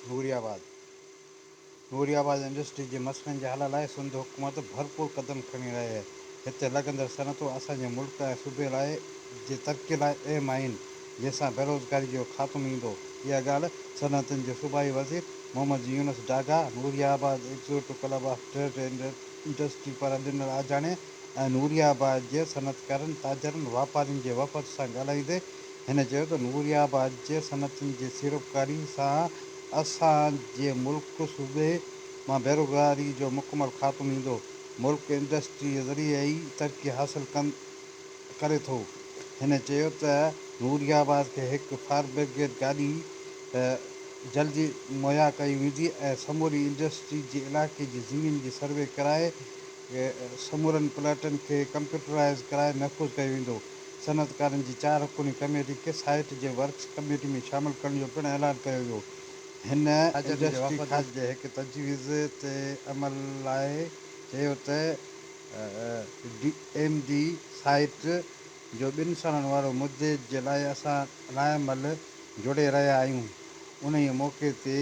نوري آباد، Nooriabad industry جي مسئلن جي حل لاء سنڌ حڪومت ڀرپور قدم کڻي رهي آهي، هتي لڳندڙ صنعتون اسان جي ملڪ ۽ صوبي لاء جي ترقي لاء اهم آهن، جنهن سان بيروزگاري جو خاتمو ايندو، اها ڳالهه صنعتن جي صوبائي وزير Muhammad Younus Daga Nooriabad executive club of trade and industry پاران ڏنل آجياڻي ۽ نوري آباد جي صنعتڪارن، تاجرن، واپارين جي وفد سان ڳالهائيندي هن چيو ته نوري آباد جي صنعتين جي سيڙپڪاري سان اسان جي ملڪ صوبي مان بيروزگاري جو مڪمل خاتمو ايندو، ملڪ انڊسٽري ذريعي ئي ترقي حاصل ڪندو. ڪري ٿو. هن چيو ته نوري آباد کي هڪ فائر برگيڊ گاڏي جلدي مهيا ڪئي ويندي ۽ سموري انڊسٽري جي علائقي جي زمين جي سروي ڪرائي سمورن پلاٽن کي ڪمپيوٽرائيز ڪرائي محفوظ ڪيو ويندو. صنعتڪارن جي چار رڪني ڪميٽي کي سائيٽ جي ورڪس ڪميٽي ۾ شامل ڪرڻ جو پڻ اعلان ڪيو ويو. هن انڊسٽري کاتي جي هڪ تجويز تي عمل لاء چيو ته. ڊي ايم ڊي سائيٽ جو ٻن سالن وارو مدي جي لاء اسان رائي مل جوڙي رهيا آهيون انهيء موقعي تي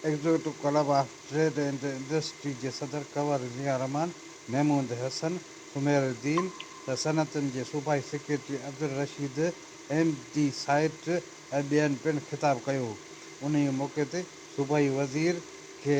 executive club of trade and industry جي صدر ڪنور ضياء الرحمان، محمود حسن، سمير الدين ته صنعتن جي صوبائي secretary Abdul Rashid, M D site ۽ ٻين پڻ خطاب ڪيو انهيء موقعي تي صوبائي وزير کي